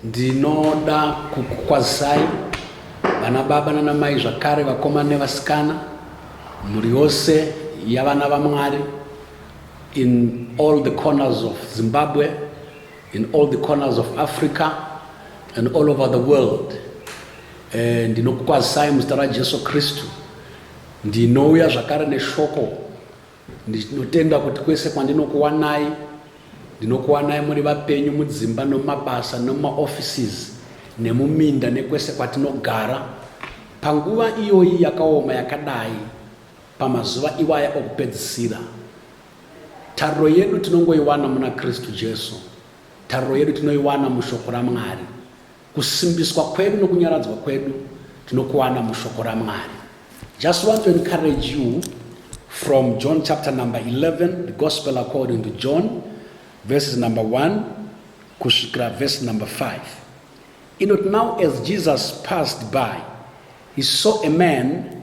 ndinoda kukukwazisai vana baba nana mai zvakare vakomana nevasikana mhuri yose yavana vamwari in all the corners of zimbabwe in all the corners of africa and all over the world eh, ndinokukwazisai muzita rajesu kristu Ndinouya zvakare neshoko ndinotenda kuti kwese kwandinokuwanai ndinokuwanai muri vapenyu mudzimba nomumabasa nomumaoffices nemuminda nekwese kwatinogara panguva iyoyi yakaoma yakadai pamazuva iwaya okupedzisira tariro yedu tinongoiwana muna kristu jesu tariro yedu tinoiwana mushoko ramwari Kusimbiswa kwedu nokunyaradzwa kwedu tinokuwana mushoko raMwari. Just want to encourage you from John chapter number 11, the gospel according to John, verses number 1 kusvikira verse number 5. Inoti now as Jesus passed by, he saw a man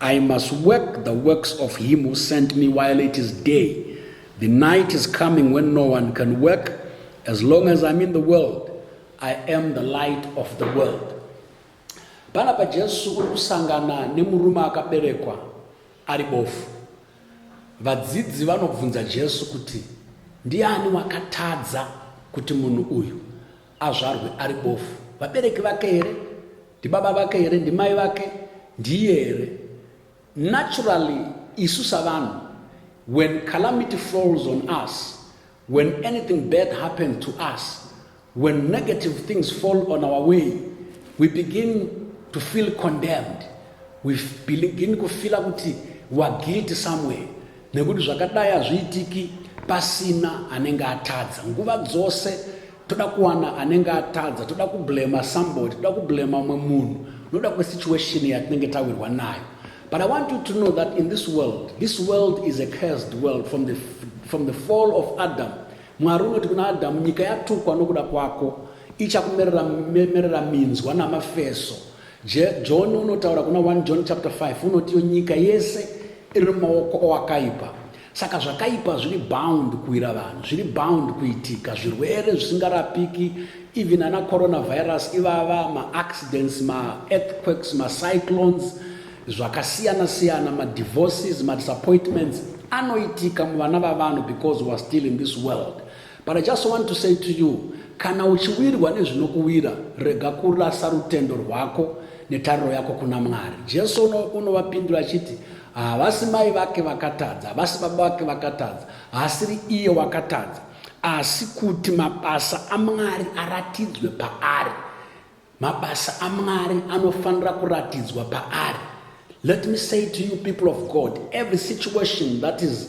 I must work the works of him who sent me while it is day. The night is coming when no one can work. As long as I'm in the world, I am the light of the world. Pana pa Jesu uri kusangana nemurume akaberekwa ari bofu. Vadzidzi vanobvunza Jesu kuti ndiani wakatadza kuti munhu uyu azvarwe ari bofu vabereki vake here ndibaba vake here ndimai vake ndiye here naturally isu savanhu when calamity falls on us when anything bad happens to us when negative things fall on our way we begin to feel condemned we begin kufila kuti weare guilty somewhere nekuti zvakadai hazviitiki pasina anenge atadza nguva dzose toda kuwana anenge atadza toda kublema somebody toda kublema umwe munhu noda kwesituation yatinenge tawirwa nayo but i want you to know that in this world this world is a cursed world from the, from the fall of adam mwari unoti kuna adamu nyika yatukwa nokuda kwako ichakumerera merera minzwa namafeso John unotaura kuna 1 John chapter 5 unoti iyo nyika yese iri mumaoko owakaipa saka zvakaipa zviri bound kuwira vanhu zviri bound kuitika zvirwere zvisingarapiki even ana coronavirus ivava maaccidents maearthquakes macyclones zvakasiyana siyana madivorces madisappointments anoitika muvana vavanhu because weare still in this world But I just want to say to you, kana uchiwirwa nezvinokuwira rega kurasa rutendo rwako netariro yako kuna mwari jesu unovapindura achiti havasi mai vake vakatadza havasi baba vake vakatadza haasiri iye wakatadza asi kuti mabasa amwari aratidzwe paari mabasa amwari anofanira kuratidzwa paari let me say to you people of god every situation that is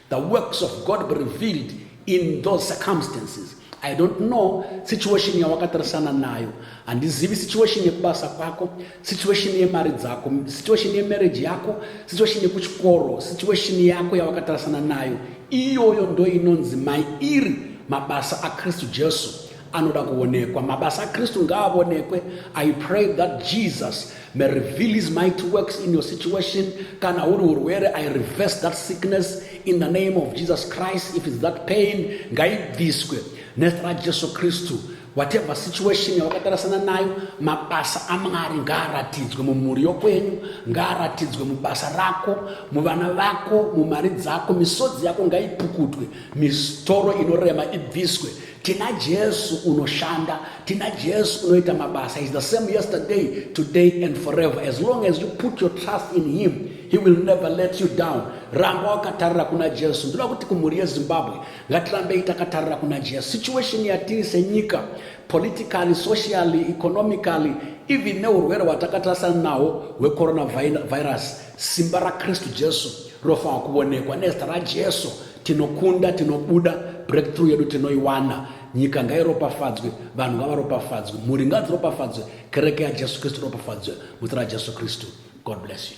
The works of God be revealed in those circumstances. I don't know situation yawakatarisana nayo. Handizivi situation yekubasa kwako, situation yemari dzako, situation yemarriage yako, situation yekuchikoro, situation yako yawakatarisana nayo. Iyoyo ndoinonzi mairi mabasa aKristu Jesu. anoda kuonekwa mabasa akristu ngaavonekwe i pray that jesus may reveal his mighty works in your situation kana huri urwere i reverse that sickness in the name of jesus christ if its that pain ngaibviswe nezita rajesu kristu whatever situation yawakatarasana nayo mabasa amwari ngaaratidzwe mumhuri yokwenyu ngaaratidzwe mubasa rako muvana vako mumari dzako misodzi yako ngaipukutwe misitoro inorema ibviswe tina jesu unoshanda tina jesu unoita mabasa is the same yesterday today and forever as long as you put your trust in him he will never let you down ramba wakatarira kuna jesu ndoda kuti kumhuri yezimbabwe ngatirambei takatarira kuna jesu situation yatiri senyika politically socially economically even neurwere hwatakatarasana nahwo hwecoronavirus simba rakristu jesu rofanwa kuonekwa nezita rajesu tinokunda tinobuda breakthrough yedu tinoiwana nyika ngairopafadzwe vanhu ngavaropafadzwe mhuri ngadziropafadzwe kereke yajesu kristu iropafadzwe muzita rajesu kristu god bless you